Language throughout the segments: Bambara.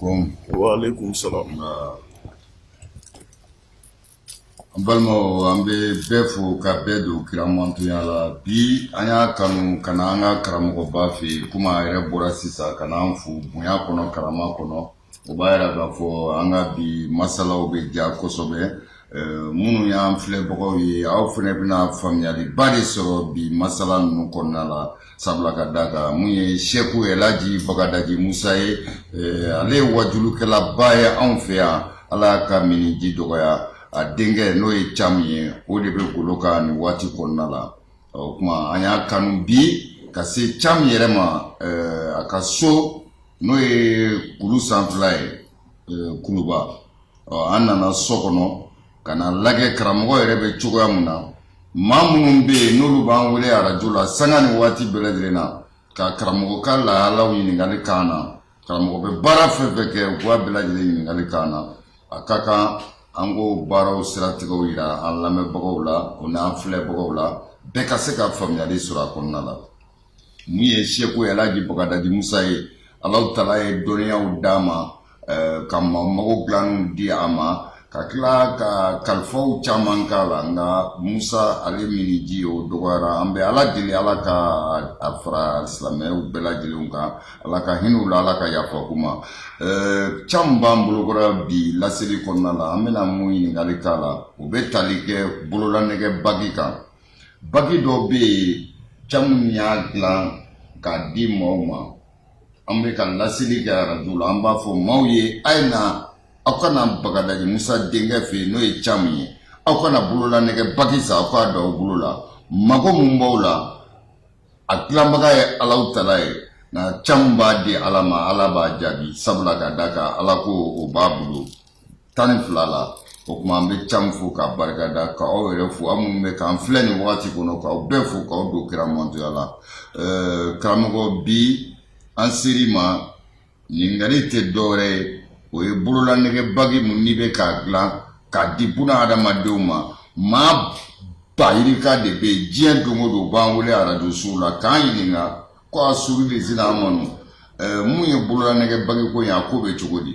alaikum. Wa alaikum salam. An balimaw an bɛ bɛɛ fo ka bɛɛ don kira mantonya la bi an y'a kanu ka na an ka karamɔgɔba fɛ yen komi a yɛrɛ bɔra sisan ka n'an fo bonya kɔnɔ karama kɔnɔ o b'a jira k'a fɔ an ka bi masalaw bɛ diya kosɛbɛ minnu y'an filɛbagaw ye aw fana bɛna faamuyayaliba de sɔrɔ bi masala ninnu kɔnɔna la sabula ka da kan mun ye seku elaji bagadaji musa ye ale ye waajulikɛlaba ye anw fɛ yan ala y'a ka minniji dɔgɔya a denkɛ n'o ye camu ye o de bɛ golo kan nin waati kɔnɔna la o tuma an y'a kanu bi ka se camu yɛrɛ ma a ka so n'o ye kulu sanfɛla ye kuluba an nana so kɔnɔ ka na lajɛ karamɔgɔ yɛrɛ bɛ cogoya min na maa minnu bɛ yen n'olu b'an wele arajo la sanga ni waati bɛɛ lajɛlen na ka karamɔgɔ ka lahalaw ɲininkali k'an na karamɔgɔ bɛ baara fɛn fɛn kɛ u b'a bɛɛ lajɛlen ɲininkali k'an na a ka kan an k'o baaraw siratigɛw jira an lamɛnbagaw la o n'an filɛbagaw la bɛɛ ka se ka faamuyali sɔrɔ a kɔnɔna la Mun ye seku elaji bagadaji musa ye alahu taala ye dɔnniyaw d'a ma ka mago dilan di a ma ka tila ka kalifaw caman k'a la nka musa ale minniji o dɔgɔyara an bɛ ala deli ala ka a fara silamɛw bɛɛ lajɛlen kan ala ka hinɛ u la ala ka yafa k'u ma camu b'an bolokɔrɔ bi laseli kɔnɔna la an bɛna mun ɲininkali k'a la u bɛ tali kɛ bololanɛgɛ bagi kan bagi dɔ bɛ yen camu y'a dilan k'a di maaw ma an bɛ ka laseli kɛ arajo la an b'a fɔ maaw ye a ye na aw ka na bagadaji musa denkɛ fɛ yen n'o ye camu ye aw ka na bololanɛgɛ bagi san aw k'a don aw bolo la mago mun b'aw la a dilanbaga ye alahu taala ye nka camu b'a di ala ma ala b'a jaabi sabula ka da kan ala ko o b'a bolo tan ni fila la o tuma an bɛ camu fo k'a barika da ka aw yɛrɛ fo aw minnu bɛ k'an filɛ nin wagati kɔnɔ k'aw bɛɛ fo k'aw don kira mantonya la karamɔgɔ bi an ser'i ma Ɲininkali tɛ dɔwɛrɛ ye o ye bololanɛgɛbagi mun n'i bɛ k'a dilan k'a di buna hadamadenw ma maa ba yirika de bɛ yen diɲɛ don o don b'an wele arajosow la k'an ɲininka ko a suru de sera an ma mun ye bololanɛgɛbagi ko ye a ko bɛ cogo di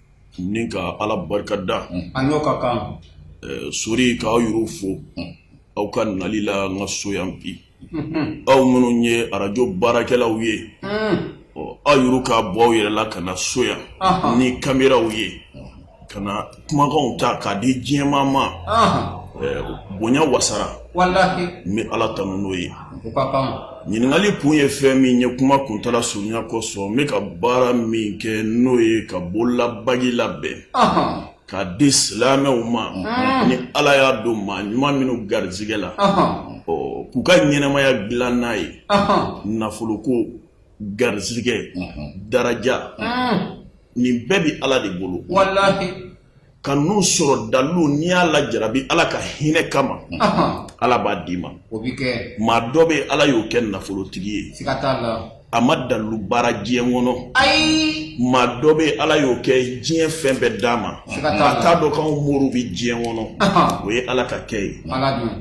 ni ka ala barika da an ka kan sɔrɔ k'aw yɛrɛ fo aw ka nali la n ka so yan bi aw minnu ye arajo baarakɛlaw ye ɔ aw yɛrɛ ka bɔ aw yɛrɛ la ka na so yan ni kameraw ye ka na kumakanw ta k'a di diɲɛ maa ma bonya wasara n bɛ ala tanu n'o ye ɲininkali kun ye fɛn min ye kuma kuntaala surunya kosɔn n bɛ ka baara min kɛ n'o ye ka bolola bagi labɛn k'a di silamɛw ma ni ala y'a don maa ɲuman minnu garizigɛ la k'u ka ɲɛnamaya dilan n'a ye nafoloko garizigɛ daraja nin bɛɛ bɛ ala de bolo Ka ninnu sɔrɔ dalu n'i y'a lajarabi ala ka hinɛ kama ala b'a d'i ma maa dɔ bɛ ala y'o kɛ nafolotigi ye a ma dalu baara diɲɛ kɔnɔ maa dɔ bɛ ala y'o kɛ diɲɛ fɛn bɛɛ d'a ma a t'a dɔn k'an moriw bɛ diɲɛ kɔnɔ o ye ala ka kɛ ye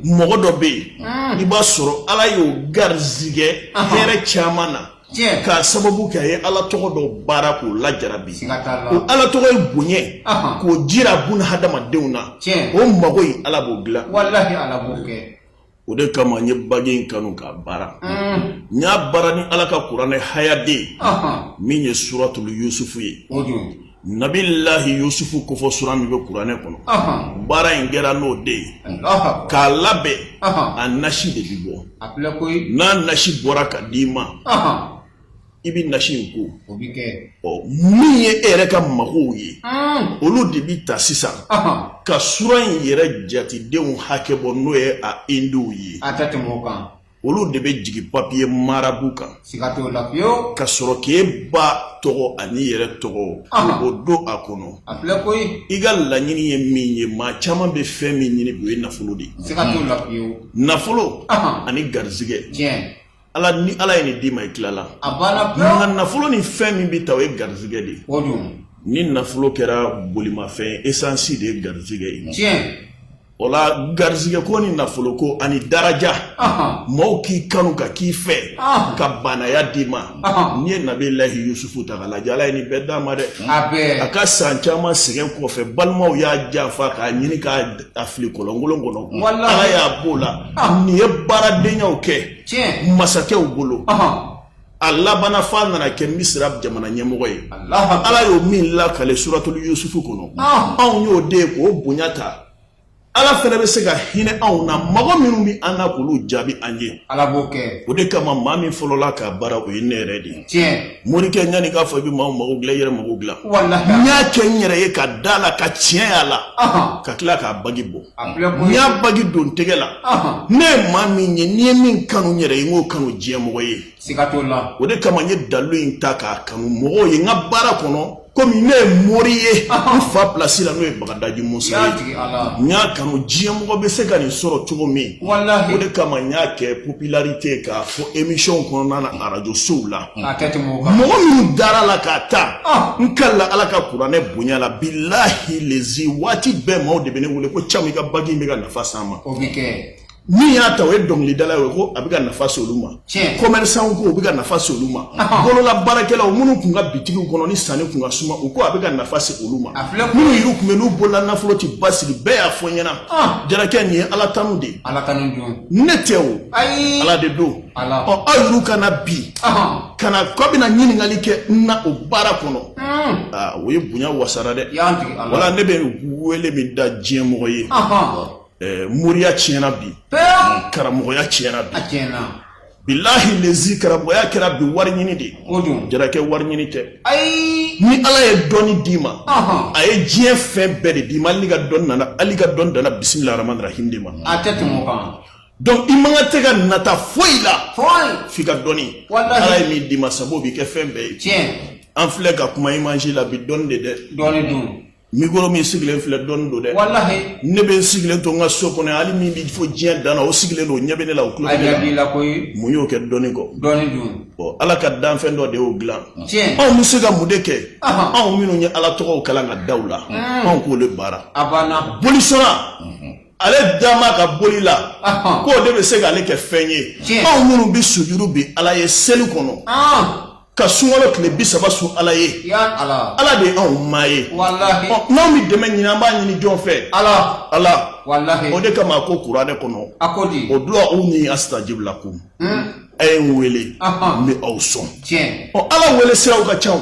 mɔgɔ dɔ bɛ yen i b'a sɔrɔ ala y'o garizigɛ hɛrɛ caman na tiɲɛ k'a sababu kɛ a ye ala tɔgɔ dɔ baara k'o lajarabi siga t'a la o ala tɔgɔ ye bonya ye Ahan. k'o jira bun hadamadenw na Tiɲɛ. o mago ye ala b'o dilan walahi ala b'o kɛ o de kama n ye bagi in kanu k'a baara Mm. n y'a baara ni ala ka kuranɛ hayaden Ahan. min ye suratul yusufu ye o don Nabilahi yusufu kofɔ sura min bɛ kuranɛ kɔnɔ baara in kɛra n'o de ye k'a labɛn a nasi de bɛ bɔ n'a nasi bɔra k'a d'i ma i bɛ nasi in ko o bɛ kɛ ɔ min ye e yɛrɛ ka magow ye olu de bɛ ta sisan ka sura in yɛrɛ jatedenw hakɛ bɔ n'o ye a indiw ye a tɛ tɛmɛ o kan olu de bɛ jigin papiye marabu kan siga t'o la fiyewu ka sɔrɔ k'e ba tɔgɔ an'i yɛrɛ tɔgɔ o don a kɔnɔ a filɛ koyi i ka laɲini ye min ye maa caman bɛ fɛn min ɲini o ye nafolo de ye siga t'o la fiyewu nafolo ani garizigɛ tiɲɛ ala ni ala ye nin d'i ma i tilala a banna pewu nka nafolo ni fɛn min bɛ taa o ye garizigɛ de ye o don ni nafolo kɛra bolimafɛn esansi de ye garizigɛ ye tiɲɛ O la garizigɛ ko ni nafolo ko ani daraja maaw k'i kanu ka k'i fɛ ka baanaya d'i ma n'i ye nabilahi yusufu ta k'a lajɛ ala ye nin bɛɛ d'a ma dɛ a ka san caman sɛgɛn kɔfɛ balimaw y'a janfa k'a ɲini k'a fili kɔlɔnkolon kɔnɔ ala y'a b'o la nin ye baaradenyaw kɛ masakɛw bolo a labanna f'a nana kɛ misira jamana ɲɛmɔgɔ ye ala y'o min lakale suratuli yusufu kɔnɔ anw y'o de ye k'o bonya ta ala fɛnɛ bɛ se ka hinɛ anw na mɔgɔ minnu bɛ an na k'olu jaabi an ye ala b'o kɛ o de kama maa min fɔlɔla k'a baara o ye ne yɛrɛ de ye morikɛ ɲani k'a fɔ i bɛ maa mako dilan i yɛrɛ mako dilan n y'a kɛ n yɛrɛ ye ka da la ka tiɲɛ y'a la ka tila k'a bagi bɔ y'a bagi don tɛgɛ la ne ye maa min ye ni n ye min kanu n yɛrɛ ye n k'o kanu diɲɛ mɔgɔ ye o de kama n ye dalu in ta k'a kanu mɔgɔw ye n ka baara kɔnɔ komi ne ye mori ye n fa pilasi la n'o ye bagadaji musa ye n y'a kanu diɲɛ mɔgɔ bɛ se ka nin sɔrɔ cogo min o de kama n y'a kɛ popularité k'a fɔ émission kɔnɔna na arajo sow la mɔgɔ minnu dara la k'a ta ah. n kalila ala ka kuranɛ bonya la bilahi lezi waati bɛɛ maaw de bɛ ne wele ko camu i ka bagi in bɛ ka nafa s'an ma min y'a ta o ye dɔnkilidala ye ko a bɛ ka nafa se olu ma commerçant ko o bɛ ka nafa se olu ma ah. bolola baarakɛlaw minnu tun ka bitigiw kɔnɔ ni sanni tun ka suma u ko a bɛ ka nafa se olu ma minnu yɛrɛ tun bɛ n'u bolola nafolo tɛ basigi bɛɛ y'a fɔ n ɲɛna ah. jarakɛ nin ye ala tanu de ye ne tɛ o ala de don ɔ aw yɛrɛ ka na bi ka na k'aw bɛna ɲininkali kɛ n na o baara kɔnɔ aa o ye bonya wasara dɛ wala ne bɛ wele min da diɲɛ mɔgɔ ye ɛɛ moriya tiɲɛna bi karamɔgɔya tiɲɛna bi bilahi lezi karamɔgɔya kɛra bi wari ɲini de ye jarakɛ wari ɲini tɛ ni ala ye dɔnni d'i ma a ye diɲɛ fɛn bɛɛ de d'i ma hali i ka dɔnni danna bisimilahi rahman rahim de ma Donc i mago tɛ ka nata foyi la foyi f'i ka dɔnni Walahi. ala ye min d'i ma sabu o b'i kɛ fɛn bɛɛ ye tiɲɛ an filɛ ka kuma image la bi dɔnni de dɛ dɔnni don mikoro min sigilen filɛ dɔnni don dɛ walahi ne bɛ n sigilen to n ka so kɔnɔ yan, hali min bɛ fɔ diɲɛ dan na o sigilen don o ɲɛ bɛ ne la o tulo a bɛ ne la ɲɛ b'i la koyi mun y'o kɛ dɔnni kɔ dɔnni don Bon, ala ka danfɛn dɔ de y'o dilan tiɲɛ anw bɛ se ka mun de kɛ Aha. anw minnu ye ala tɔgɔw kalan ka da u la anw k'o de baara a banna bolisɔnna ale dama ka boli la k'o de bɛ se k'ale kɛ fɛn ye anw minnu bɛ sujuru bi ala ye seli kɔnɔ ka sunkalo tile bi saba sun ala ye ala de ye anw maa ye n'anw bɛ dɛmɛ ɲini an b'a ɲini jɔn fɛ ala ala o de kama a ko kuranɛ kɔnɔ uduuni asitajibu lakum a ye n wele n bɛ aw sɔn ɔ ala wele siraw ka ca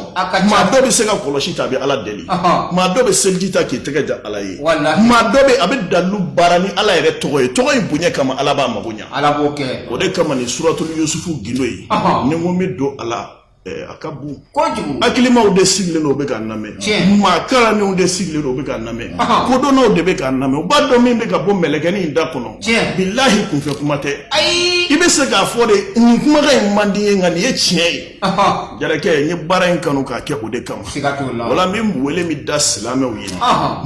maa dɔ bɛ se ka kɔlɔsi ta a bɛ ala deli maa dɔ bɛ seliji ta k'i tɛgɛ ja ala ye maa dɔ bɛ a bɛ dalu baara ni ala yɛrɛ tɔgɔ ye tɔgɔ in bonya kama ala b'a mago ɲa o de kama nin suratuli yusufu gindo ye ni n ko n bɛ don a la a ka bon kojugu hakilimaw de sigilen don u bɛ k'a lamɛn maa kalannenw de sigilen don u bɛ k'a lamɛn kodɔnnaw de bɛ k'a lamɛn u b'a dɔn min bɛ ka bɔ mɛlɛkɛnin in da kɔnɔ bilahi kunfɛ kuma tɛ i bɛ se k'a fɔ de nin kumakan in man di n ye nka nin ye tiɲɛ ye jarakɛ n ye baara in kanu k'a kɛ o de kama wala n bɛ wele min da silamɛw ye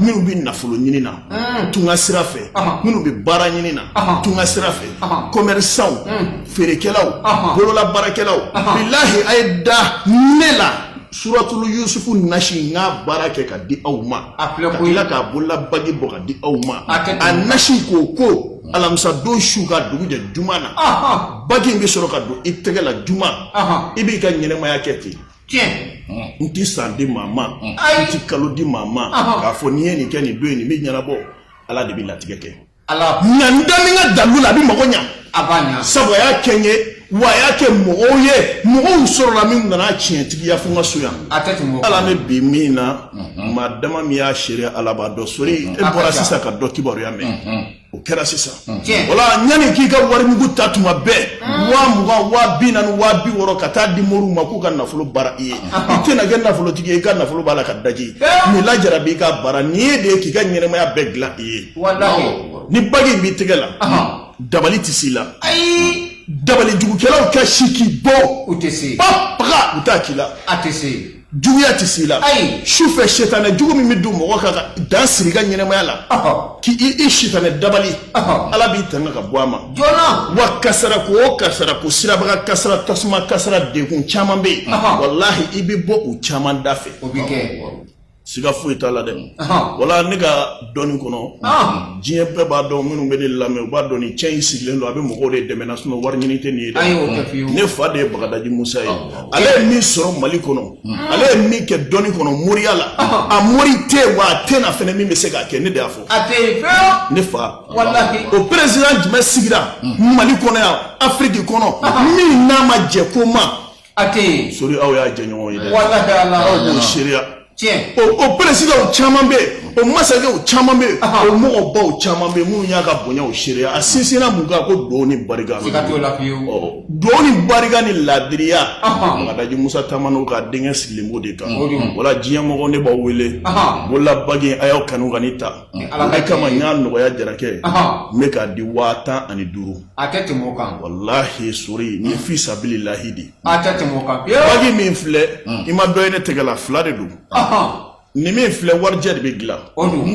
minnu bɛ nafolo ɲini na tunga sira fɛ minnu bɛ baara ɲini na tunga sira fɛ kɔmɛrisanw feerekɛlaw bolola baarakɛlaw bilahi a ye da ne la suratulu yusufu nasi n k'a baara kɛ ka di aw ma ka tila k'a bolola bagi bɔ ka di aw ma a nasi k'o ko alamisa don su ka dugu jɛ juma na bagi in bɛ sɔrɔ ka don i tɛgɛ la juma i b'i ka ɲɛnɛmaya kɛ ten tiɲɛ n ti san di maa ma n ti kalo di maa ma k'a fɔ n'i ye nin kɛ nin don in nin bɛ ɲɛnabɔ ala de bɛ latigɛ kɛ ala nka n da min ka dalu la a bɛ mago ɲa a b'a ɲa sabu a y'a kɛ n ye wa a y'a kɛ mɔgɔw ye mɔgɔw sɔrɔla min nana tiɲɛtigiya fo n ka so yan a tɛ tɛmɛ o ala n bi min na mhm. maa dama min y'a seere ala b'a dɔn sori mhm. e bɔra sisan ka dɔ kibaruya mɛn mhm. o kɛra sisan wala yanni k'i ka warimugu ta tuma bɛɛ waa mugan waa bi naani waa bi wɔɔrɔ ka taa di moriw ma k'u ka nafolo baara i ye i tɛna kɛ nafolotigi ye i ka nafolo b'a la ka bagi nin lajarabi i ka baara nin ye de ye k'i ka ɲɛnɛmaya bɛɛ dilan i ye ni bagi in b'i tɛgɛ la dabali tɛ s'i la ayi dabalijugukɛlaw ka si k'i bɔ u tɛ se ba baga u t'a k'i la a tɛ se juguya tɛ s'i la ayi sufɛ sitanɛ jugu min bɛ don mɔgɔ kan ka dan siri i ka ɲɛnɛmaya la k'i i sitanɛ dabali ala b'i tanga ka bɔ a ma joona wa kasara ko o kasara ko siraba kan kasara tasuma kasara degun caman bɛ yen walahi i bɛ bɔ u caman da fɛ o bɛ kɛ siga foyi t'a la dɛ wala ne ka dɔnni kɔnɔ diɲɛ bɛɛ b'a dɔn minnu bɛ ne lamɛn u b'a dɔn ni cɛ in sigilen don a bɛ mɔgɔw de dɛmɛ na sinɔn wari ɲini tɛ nin ye dɛ ne fa de ye bagadaji musa ye ale ye min sɔrɔ mali kɔnɔ ale ye min kɛ dɔnni kɔnɔ moriya la a mori tɛ yen wa a tɛ na fɛnɛ min bɛ se k'a kɛ ne de y'a fɔ ne fa o peresidan jumɛn sigira mali kɔnɔ yan afiriki kɔnɔ min n'a ma jɛ ko ma A tɛ yen. Sori aw y'a jɛɲɔgɔn ye dɛ. Walahi Ala. Aw b'o seereya. Tiɲɛ. O o peresidanw caman bɛ yen, o masakɛw caman bɛ yen, o mɔgɔbaw caman bɛ yen minnu y'a ka bonya o seereya, a sinsinna mun kan ko duwawu ni barika. Siga t'o la fiyewu. Ɔɔ duwawu ni barika ni laadiriya. Ɔhɔn. Bagadaji Musa Tamano ka denkɛ sigilen b'o de kan. O don. Wala diɲɛ mɔgɔw ne b'aw wele. Ɔhɔn. Bolola bagi in a y'aw kanu ka nin ta. Ni Ala ka jɛn ye. O de kama n y'a nɔgɔya Jarakɛ ye. Ɔhɔn. N bɛ k'a di waa tan ani duuru. a tɛ tɛmɛ o kan walahi sori ni fi sabili lahi de a tɛ tɛmɛ o kan bagi min filɛ i ma dɔ ye ne tɛgɛ la fila de don nin min filɛ warijɛ de bɛ dilan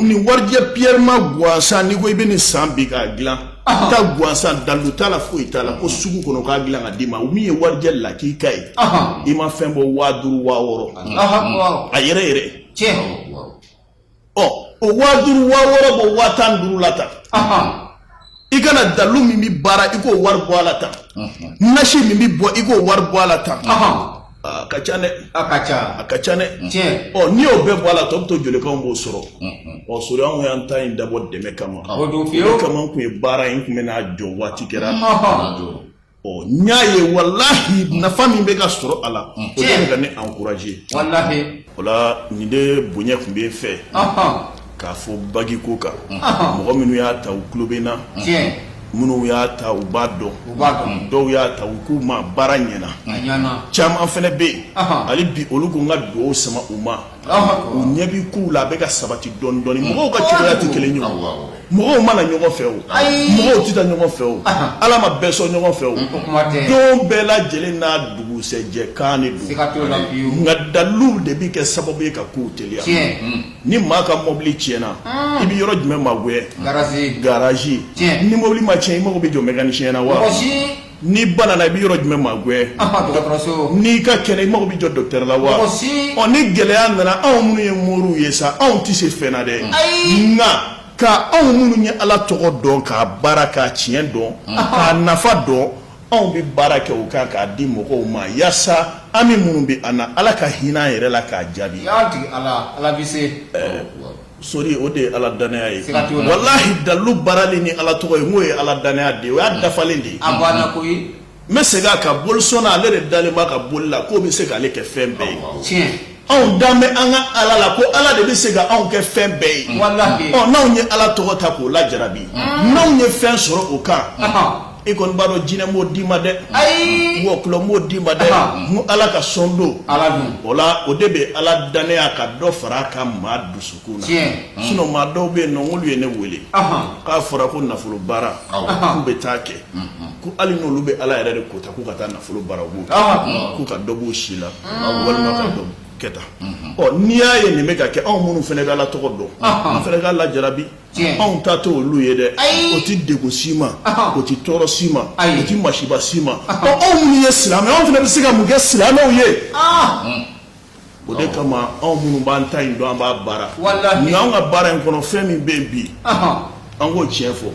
ni warijɛ piyɛrima gansan n'i ko i bɛ nin san bi k'a dilan tan gansan dalu t'a la foyi t'a la ko sugu kɔnɔ k'a dilan k'a d'i ma min ye warijɛ lakika ye i ma fɛn bɔ waa duuru waa wɔɔrɔ a yɛrɛ yɛrɛ ɔ o waa duuru waa wɔɔrɔ bɔ waa tan ni duuru la tan i ka na dalu min bɛ baara i k'o wari bɔ a la tan nasi min bɛ bɔ i k'o wari bɔ a la tan a ka ca dɛ a ka ca a ka ca dɛ ɔ n'i y'o bɛɛ bɔ a la tɔ bɛ to joli k'anw b'o sɔrɔ ɔ sori anw y'an ta in dabɔ dɛmɛ kama o kama n tun ye baara in tun bɛ n'a jɔ waati kɛra n y'a ye walahi nafa min bɛ ka sɔrɔ a la o de bɛ ka ne encourager o la nin de bonya tun bɛ n fɛ k'a fɔ bagi ko kan mɔgɔ minnu y'a ta u tulo bɛ n na minnu y'a ta u b'a dɔn dɔw y'a ta u ko n ma baara ɲɛna caman fana bɛ yen hali bi olu ko n ka dugawu sama u ma u ɲɛ b'i kow la a bɛ ka sabati dɔɔni dɔɔni mm. mɔgɔw ka cogoya tɛ kelen ye o mɔgɔw ma na ɲɔgɔn fɛ o mɔgɔw tɛ taa ɲɔgɔn fɛ o ala ma bɛɛ sɔn ɲɔgɔn fɛ o don bɛɛ lajɛlen n'a dugusɛjɛ kan de don nka daliluw de bɛ kɛ sababu ye ka kow teliya mm. ni maa ka mɔbili tiɲɛna mm. i bɛ yɔrɔ jumɛn magɛn garazi ni mɔbili ma tiɲɛ i mago bɛ jɔ mɛkanisiyɛn na wa N'i banana i bɛ yɔrɔ jumɛn magɛn n'i ka kɛnɛ i mago bɛ jɔ docteur la wa ɔ ni gɛlɛya nana anw minnu ye moriw ye sa anw tɛ se fɛn na dɛ nka ka anw minnu ye ala tɔgɔ dɔn k'a baara k'a tiɲɛ dɔn k'a nafa dɔn anw bɛ baara kɛ o kan k'a di mɔgɔw ma yaasa hami minnu bɛ an na ala ka hinɛ an yɛrɛ la k'a jaabi Sori o de ye ala dannaya ye walahi dalu baarali ni ala tɔgɔ ye n'o ye ala dannaya de ye o y'a dafalen de ye n bɛ segin a kan bolisɔnna ale de dalen b'a ka boli la k'o bɛ se k'ale kɛ fɛn bɛɛ ye anw dalen bɛ an ka ala la ko ala de bɛ se ka anw kɛ fɛn bɛɛ ye n'anw ye ala tɔgɔ ta k'o lajarabi n'anw ye fɛn sɔrɔ o kan i kɔni b'a dɔn jinɛ m'o d'i ma dɛ ayi wɔkulɔ m'o d'i ma dɛ nin ala ka sɔn don ala don o la o de bɛ ala dannaya ka dɔ fara a kan maa dusukun na tiɲɛ sinon maa dɔw bɛ yen nɔ n'olu ye ne wele k'a fɔra ko nafolo baara k'u bɛ taa kɛ ko hali n'olu bɛ ala yɛrɛ de kota k'u ka taa nafolo baara u b'o kɛ k'u ka dɔ b'u si la walima ka dɔ kɛ tan ɔ n'i y'a ye nin bɛ ka kɛ anw minnu fana bɛ ala tɔgɔ dɔn an fana k'a lajarabi anw ta tɛ olu ye dɛ o tɛ degun si ma o tɛ tɔɔrɔ si ma o tɛ masiba si ma ɔ anw minnu ye silamɛ anw fana bɛ se ka mun kɛ silamɛw ye o de kama anw minnu b'an ta in dɔn an b'a baara nka anw ka baara in kɔnɔ fɛn min bɛ yen bi an k'o tiɲɛ fɔ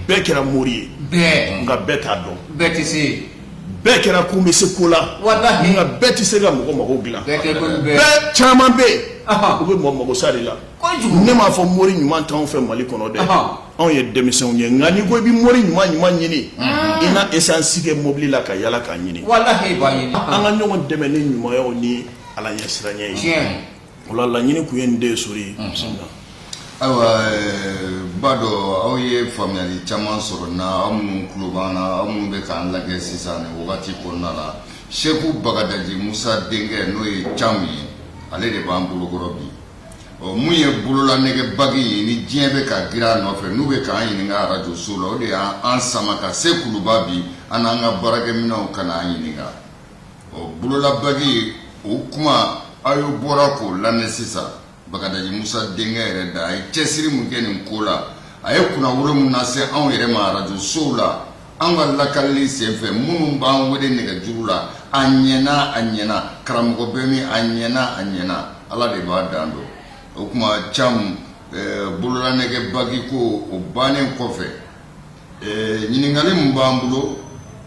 bɛɛ kɛra mori ye nka bɛɛ t'a dɔn bɛɛ tɛ se yen bɛɛ kɛra ko n bɛ se ko la nka bɛɛ tɛ se ka mɔgɔ mago dilan bɛɛ caman bɛ yen u bɛ mɔgɔ mago sa de la ne m'a fɔ mori ɲuman t'anw fɛ mali kɔnɔ dɛ anw ye denmisɛnw ye nka n'i ko i bɛ mori ɲuman ɲuman ɲini i na esansi kɛ mobili la ka yala k'a ɲini an ka ɲɔgɔn dɛmɛ ni ɲumanyaw ni ala ɲɛsiranya ye o la laɲini kun ye nin de ye sori ayiwa n b'a dɔn aw ye faamuyali caman sɔrɔ na aw minnu tulo b'an na aw minnu bɛ k'an lajɛ sisan nin wagati kɔnɔna la seku bagadaji musa denkɛ n'o ye cam ye ale de b'an bolokɔrɔ bi ɔ mun ye bololanɛgɛ bagi ye ni diɲɛ bɛ ka girin a nɔfɛ n'u bɛ k'an ɲininka arajo so la o de y'an sama ka se kuluba bi an n'an ka baarakɛminɛnw ka n'an ɲininka ɔ bololabagi o kuma aw ye bɔra k'o lamɛn sisan bagadaji musa denkɛ yɛrɛ da a ye cɛsiri mun kɛ nin ko la a ye kunnawolo mun lase anw yɛrɛ ma arajo sow la an ka lakalili senfɛ minnu b'an wele nɛgɛjuru la a ɲɛna a ɲɛna karamɔgɔ bɛ min a ɲɛna a ɲɛna ala de b'a dan dɔn o tuma cam eh, bololanɛgɛ bagi ko o bannen kɔfɛ eh, ɲininkali min b'an bolo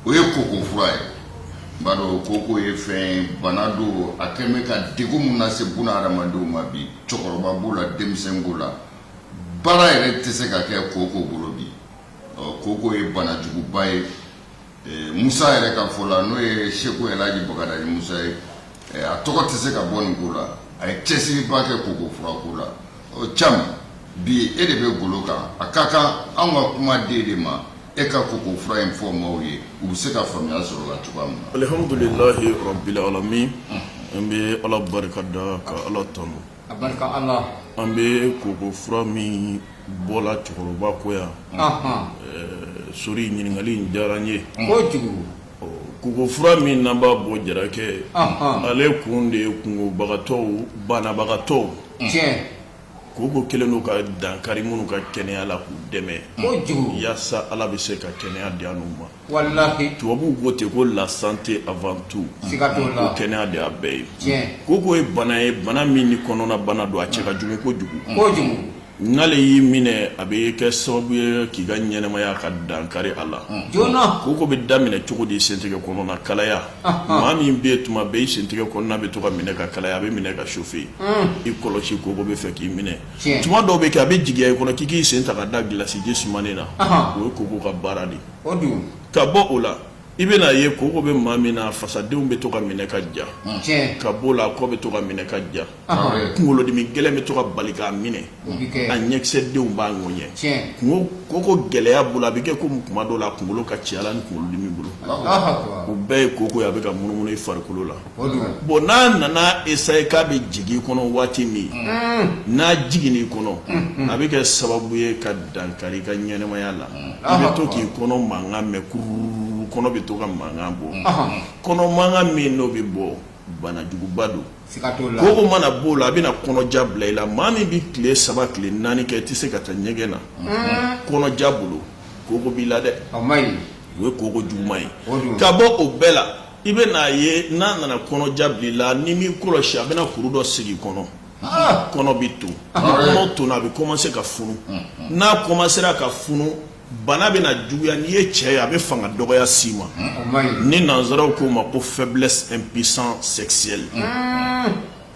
o ye koko fura ye n b'a dɔn koko ye fɛn bana don a kɛlen bɛ ka degun min lase buna hadamadenw ma bi cɛkɔrɔba b'o la denmisɛn b'o la baara yɛrɛ tɛ se ka kɛ koko bolo bi koko ye banajuguba ye musa yɛrɛ ka fɔ la n'o ye seku ɛlihaji bagadaji musa ye a tɔgɔ tɛ se ka bɔ nin ko la a ye cɛsiriba kɛ koko furako la cam bi e de bɛ golo kan a ka kan an ka kuma di e de ma e ka koko fura in fɔ maaw ye u bɛ se ka faamuya sɔrɔ a la cogoya min na alihamdulilahi rabili alamin an bɛ ala barika da ka ala tanu a barika ala an bɛ koko fura min bɔ la cɛkɔrɔba kɔ yan sori ɲininkali in diyara n ye koko fura min n'an b'a bɔ jarakɛ ale kun de ye kunkobagatɔw banabagatɔw koko kɛlen don ka dankari minnu ka kɛnɛya la k'u dɛmɛ yaasa ala bɛ se ka kɛnɛya di an n'u ma Walahi tubabuw ko ten ko la santé avant tout siga t'o la, ko kɛnɛya de y'a bɛɛ ye, tiɲɛ, koko ye bana ye bana min ni kɔnɔna bana don a cɛ ka jugu kojugu, kojugu, n'ale y'i minɛ a bɛ kɛ sababu ye k'i ka ɲɛnɛmaya ka dankari a la, joona, koko bɛ daminɛ cogo di sentigɛ kɔnɔna kalaya, maa min bɛ yen tuma bɛɛ i sentigɛ kɔnɔna bɛ to ka minɛ ka kalaya a bɛ minɛ ka chauffer i kɔlɔsi koko bɛ fɛ k'i minɛ tuma dɔw bɛ kɛ a bɛ jigiya i kɔnɔ k'i k'i sen ta ka da gilasiji sumanen na o ye koko ka baara de ka bɔ o la i bɛna ye koko bɛ maa min na fasadenw bɛ to ka minɛ ka ja ka bɔ la kɔ bɛ to ka minɛ ka ja kunkolodimi gɛlɛn bɛ to ka bali k'a minɛ a ɲɛkisɛdenw b'a ŋɛɲɛ koko gɛlɛya bolo a bɛ kɛ komi tuma dɔw la a kunkolo ka ci a la ni kunkolodimi bolo o bɛɛ ye koko ye a bɛ ka munumunu i farikolo la bon n'a nana essayer k'a bɛ jigin i kɔnɔ waati min n'a jigin'i kɔnɔ a bɛ kɛ sababu ye ka dankari i ka ɲɛnɛmaya la i bɛ to k'i kɔnɔ mankan mɛn kururu kɔnɔ bɛ to ka mankan bɔ kɔnɔ mankan min n'o bɛ bɔ banajuguba don koko mana b'o la a bɛna kɔnɔja bila i la maa min bɛ tile saba tile naani kɛ i tɛ se ka taa ɲɛgɛn na kɔnɔja bolo koko b'i la dɛ o ye koko juguman ye ka bɔ o bɛɛ la i bɛn'a ye n'a nana kɔnɔja bila i la n'i m'i kɔlɔsi a bɛna kuru dɔ sigi i kɔnɔ kɔnɔ bɛ ton kɔnɔ tonna a bɛ kɔmanse ka funu n'a kɔmansera ka funu bana bɛna juguya n'i ye cɛ ye a bɛ fanga dɔgɔya s'i ma ni nansaraw k'o ma ko faiblesse impuissance sexuelle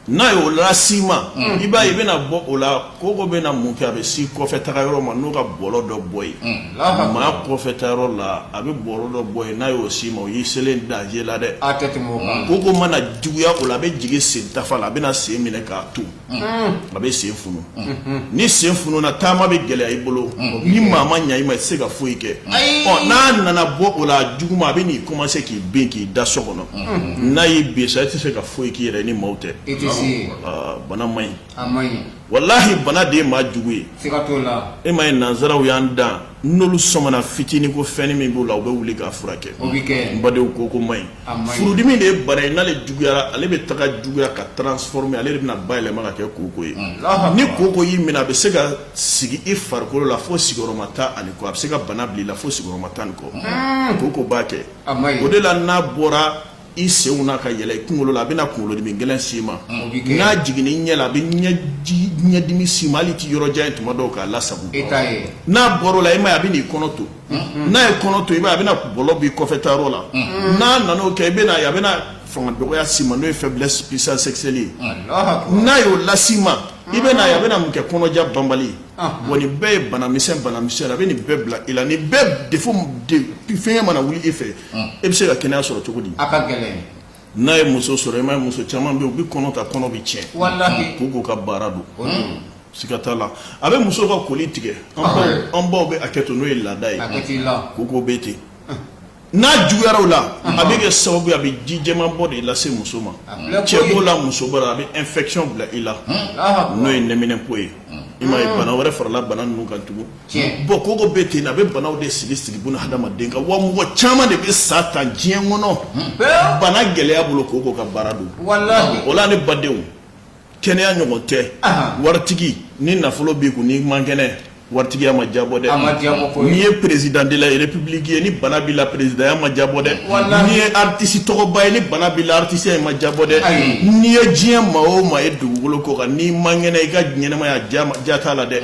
N'a ye o las'i ma i b'a ye i bɛna bɔ o la koko bɛna mun kɛ a bɛ s'i kɔfɛ taga yɔrɔ ma n'o ka bɔlɔ dɔ bɔ yen maa kɔfɛ taa yɔrɔ la a bɛ bɔlɔ dɔ bɔ yen n'a y'o s'i ma o y'i selen danger la dɛ koko mana juguya o la a bɛ jigin sen tafa la a bɛna sen minɛ k'a to a bɛ sen funu ni sen fununa taama bɛ gɛlɛya i bolo ni maa ma ɲɛ i ma i tɛ se ka foyi kɛ ɔ n'a nana bɔ o la juguman a bɛn'i commencer k'i bin k'i da so kɔnɔ n'a y'i bin sa i tɛ se ka foyi k'i yɛrɛ ye ni maaw tɛ i tɛ se yen aa bana man ɲi a man ɲi walahi bana de ye maa jugu ye siga t'o la e m'a ye nansaraw y'an dan n'olu sɔmana fitinin ko fɛnnin min b'o la u bɛ wuli k'a furakɛ o bɛ kɛ n badenw koko man ɲi furudimi de ye bana ye n'ale juguyara ale bɛ taga juguya ka transformer ale de bɛna bayɛlɛma ka kɛ koko ye ni koko y'i minɛ a bɛ se ka sigi i farikolo la fo sigiyɔrɔma tan ani kɔ a bɛ se ka bana bila i la fo sigiyɔrɔma tan ni kɔ koko b'a kɛ o de la n'a bɔra i senw na ka yɛlɛ i kunkolo la a bɛna kunkolodimi gɛlɛn s'i ma n'a jiginna i ɲɛ la a bɛ ɲɛdimi s'i ma hali i tɛ yɔrɔ jan ye tuma dɔw k'a lasago n'a bɔr'o la i m'a ye a bɛna i kɔnɔ ton n'a ye kɔnɔ ton i b'a ye a bɛna bɔlɔ b'i kɔfɛ taa yɔrɔ la n'a nana o kɛ i bɛna ye a bɛna fanga dɔgɔya s'i ma n'o ye faiblesse impuissance sexuelle ye n'a y'o las'i ma i bɛna ye a bɛna mun kɛ kɔnɔja banbali wa nin bɛɛ ye banamisɛn banamisɛn a bɛ nin bɛɛ bila i la nin bɛɛ defo fɛngɛ mana wuli i fɛ e bɛ se ka kɛnɛya sɔrɔ cogo di a ka gɛlɛn n'a ye muso sɔrɔ i m'a ye muso caman bɛ yen u bɛ kɔnɔ ta kɔnɔ bɛ tiɲɛ koko ka baara don siga t'a la a bɛ muso ka koli tigɛ an baw bɛ hakɛ to n'o ye laada ye koko bɛ ten n'a juguyara o la a bɛ kɛ sababu ye a bɛ ji jɛman bɔ de lase muso ma cɛ b'o la muso b'o la a bɛ infection bila i la n'o ye nɛminɛnpo ye i m'a ye bana wɛrɛ farala bana ninnu kan tugun bon koko bɛ ten a bɛ banaw de sigi sigi buna hadamaden kan wa mɔgɔ caman de bɛ sa tan diɲɛ kɔnɔ hmm. bana gɛlɛya bolo koko ka baara don o la ne badenw kɛnɛya ɲɔgɔn tɛ waritigi ni nafolo b'i kun n'i man kɛnɛ waritigiya ma jabɔ dɛ n'i ye président de la république ye ni bana b'i la perezidanya ma jabɔ dɛ n'i ye aritisi tɔgɔba ye ni bana b'i la aritisiya ma jabɔ dɛ n'i ye diɲɛ maa o maa ye dugukolo kɔ kan n'i man kɛnɛ i ka ɲɛnɛmaya ja t'a la dɛ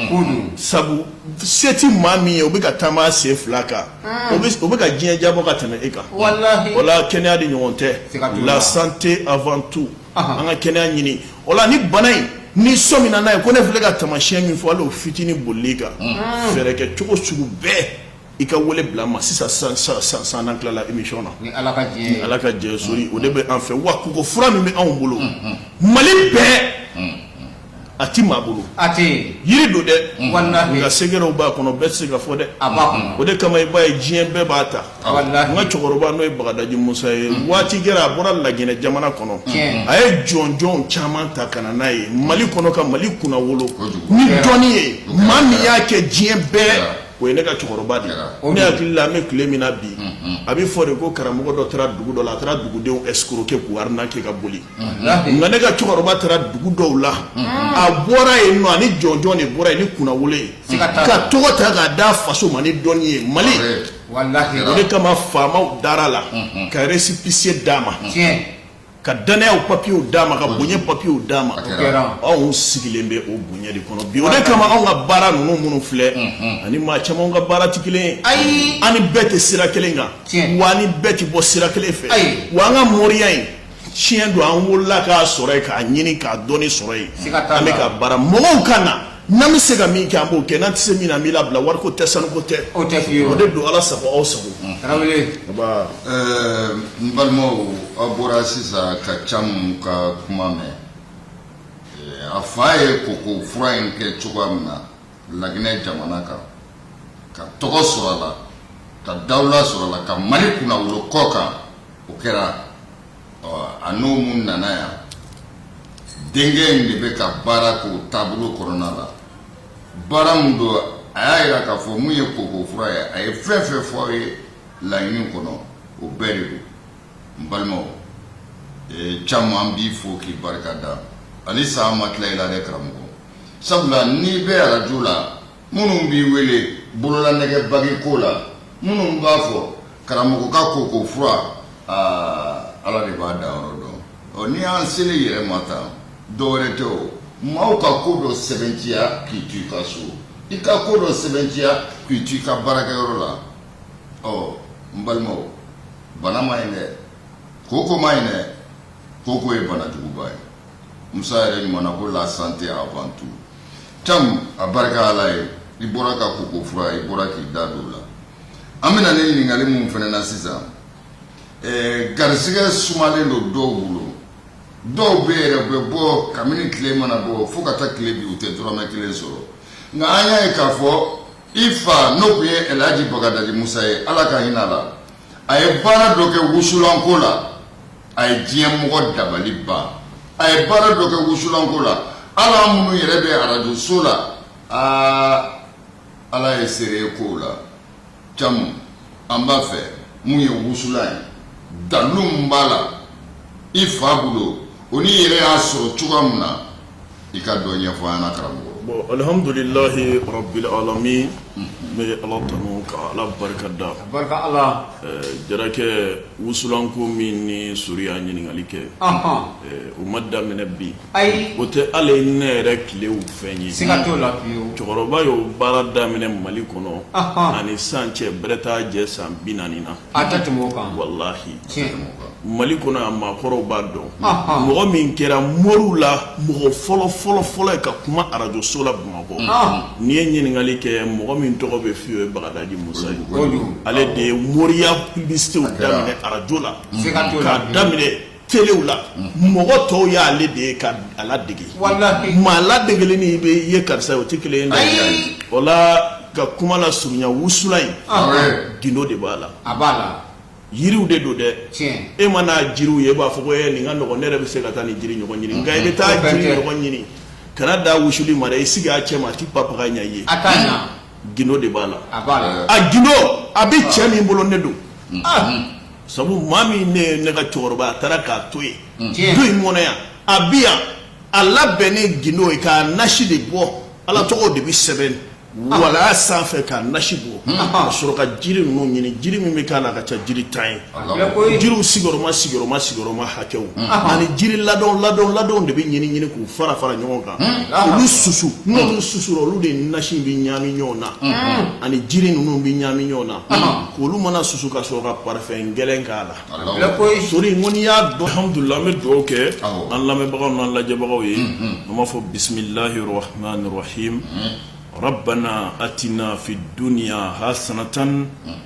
sabu se tɛ maa min ye o bɛ ka taama sen fila kan o bɛ ka diɲɛ jabɔ ka tɛmɛ e kan o la kɛnɛya de ɲɔgɔn tɛ la santé avant tout an ka kɛnɛya ɲini o la ni bana in n'i sɔmina n'a ye ko ne filɛ ka tamasiyɛn min fɔ o hali fitinin boli kan fɛɛrɛ kɛ cogo sugu bɛɛ i ka weele bila n ma sisan san n'an tilala émission na ni ala ka jɛ sori o de bɛ an fɛ wa koko fura min bɛ anw bolo mali bɛɛ a tɛ maa bolo yiri don dɛ nka sɛgɛrɛw b'a kɔnɔ bɛɛ tɛ se ka fɔ dɛ o de kama i b'a ye diɲɛ bɛɛ b'a ta n ka cɛkɔrɔba n'o ye bagadaji musa ye waati kɛra a bɔra laginɛ jamana kɔnɔ a ye jɔnjɔn caman ta ka na n'a ye mali kɔnɔ ka mali kunnawolo ni dɔnni ye maa min y'a kɛ diɲɛ bɛɛ o ye ne ka cɛkɔrɔba de ye ne hakili la an bɛ tile min na bi a bɛ fɔ de ko karamɔgɔ dɔ taara dugu dɔ la a taara dugudenw escroquer k'u arnaquer ka boli nka ne ka cɛkɔrɔba taara dugu dɔw la a bɔra yen nɔ ani jɔnjɔn de bɔra yen ni kunnawolo ye ka tɔgɔ ta k'a d'a faso ma ni dɔnni ye mali o de kama faamaw dara a la ka récépissé d'a ma ka dannaya papiyew d'a ma ka bonya papiyew d'a ma anw sigilen bɛ o bonya de kɔnɔ bi o de kama anw ka baara ninnu minnu filɛ ani maa caman ka baara tɛ kelen ye an ni bɛɛ tɛ sira kelen kan wa an ni bɛɛ tɛ bɔ sira kelen fɛ wa an ka moriya ye tiɲɛ don an wolola k'a sɔrɔ yen k'a ɲini k'a dɔnni sɔrɔ yen an bɛ ka baara mɔgɔw ka na n'an bɛ se ka min kɛ an b'o kɛ n'an tɛ se min na an b'i labila wariko tɛ sanuko tɛ o tɛ fiyewu eh, o de don ala sago aw sago tarawele n balimaw aw bɔra sisan ka camu ka kuma mɛn a fa ye koko fura in kɛ cogoya min na laginɛ jamana kan ka tɔgɔ sɔrɔ a la ka dawula sɔrɔ a la ka mali kunnawolo kɔkan o kɛra a n'o mun nana yan denkɛ in de bɛ ka baara k'o taabolo kɔnɔna la baara min don a y'a jira k'a fɔ mun ye koko fura ye a ye fɛn fɛn fɔ aw ye laɲini kɔnɔ o bɛɛ de don n balimaw ee, caman b'i fo k'i barika da hali sa an ma tila i la dɛ karamɔgɔ sabula n'i bɛ arajo la minnu b'i wele bololanɛgɛ bague ko la minnu b'a fɔ karamɔgɔ ka koko fura aa ala de b'a danyɔrɔ dɔn ɔ n'i y'an sel'i yɛrɛ ma tan dɔwɛrɛ tɛ o maaw ka ko dɔ sɛbɛntiya k'i to i ka so i ka ko dɔ sɛbɛntiya k'i to i ka baarakɛyɔrɔ la ɔ n balimaw bana man ɲi dɛ koko man ɲi dɛ koko ye bana juguba ye musa yɛrɛ kumana ko la santé avant tout cam a barika ala ye i bɔra ka koko fura i bɔra k'i da don o la an bɛ na ni ɲininkali minnu fana na sisan eh, garisigɛ sumalen don dɔw bolo dɔw bɛ yɛrɛ bɛ bɔ kabini tile mana bɔ fo ka taa tile bin u tɛ dɔrɔmɛ kelen sɔrɔ nka an y'a ye k'a fɔ i fa n'o tun ye Elhaji Bagadaji Musa ye Ala ka hinɛ a la, a ye baara dɔ kɛ wusulanko la, a ye diɲɛ mɔgɔ dabali ban, a ye baara dɔ kɛ wusulanko la, hali an minnu yɛrɛ bɛ arajo so la, aa Ala ye seere ye kow la, Camu, an b'a fɛ mun ye wusulan ye, dalu min b'a la i fa bolo o n'i yɛrɛ y'a sɔrɔ cogoya min na, i ka dɔ ɲɛfɔ an ɲɛna karamɔgɔ bon alihamdulilahi rabbil alamin n bɛ ala tanu ka ala barika da barika ala jarakɛ wusulanko min ni sori y'a ɲininkali kɛ o ma daminɛ bi ayi o tɛ hali ne yɛrɛ tilew fɛn ye siga t'o la cɛkɔrɔba y'o baara daminɛ mali kɔnɔ a ni san cɛ bɛrɛ t'a jɛ san bi naani na A tɛ tɛmɛ o kan walahi tiɲɛ Mali kɔnɔ yan maakɔrɔw b'a dɔn mɔgɔ min kɛra moriw la mɔgɔ fɔlɔ fɔlɔ fɔlɔ ye ka kuma arajo so la Bamakɔ n'i ye ɲininkali kɛ mɔgɔ min tɔgɔ bɛ fɔ i ye o ye Bagadaji Musa ye ale de ye moriya publicitéw daminɛ arajo la k'a daminɛ telew la mɔgɔ tɔw y'ale de ye k'a ladege maa ladegeli ni bɛ ye karisa o tɛ kelen ye o la ka kuma lasurunya wusulan in gindo de b'a la a b'a la yiriw de don dɛ e man'a jiriw ye e b'a fɔ ko e nin ka nɔgɔ ne yɛrɛ bɛ se ka taa nin jiri ɲɔgɔn ɲini nka i bɛ taa jiri ɲɔgɔn ɲini ka n'a da wusuli ma dɛ i sigi a cɛ ma a t'i papaga ɲɛ i ye gindo de b'a la a gindo a bɛ cɛ min bolo ne don sabu maa min ne ne ka cɛkɔrɔba a taara k'a to yen du in kɔnɔ yan a bi yan a labɛnnen gindo ye k'a nasi de bɔ ala tɔgɔ de bɛ sɛbɛn walaa sanfɛ k'a nasi bɔ ka sɔrɔ ka jiri ninnu ɲini jiri min bɛ k'a la ka ca jiri tan ye jiriw sigiyɔrɔma sigiyɔrɔma sigiyɔrɔma hakɛw ani jiri ladɔn ladɔn ladɔn de bɛ ɲini ɲini k'u fara fara ɲɔgɔn kan olu susu n'olu susura olu de nasi bɛ ɲaami ɲɔgɔn na ani jiri ninnu bɛ ɲaami ɲɔgɔn na k'olu mana susu ka sɔrɔ ka parifɛn gɛlɛn k'a la sori ko n'i y'a dɔn hamudula an bɛ dugawu kɛ an lamɛnbagaw n'an lajɛbagaw ye an b'a fɔ bisimilahi rahmanir rahim rabbana atina fid dunya hasanatan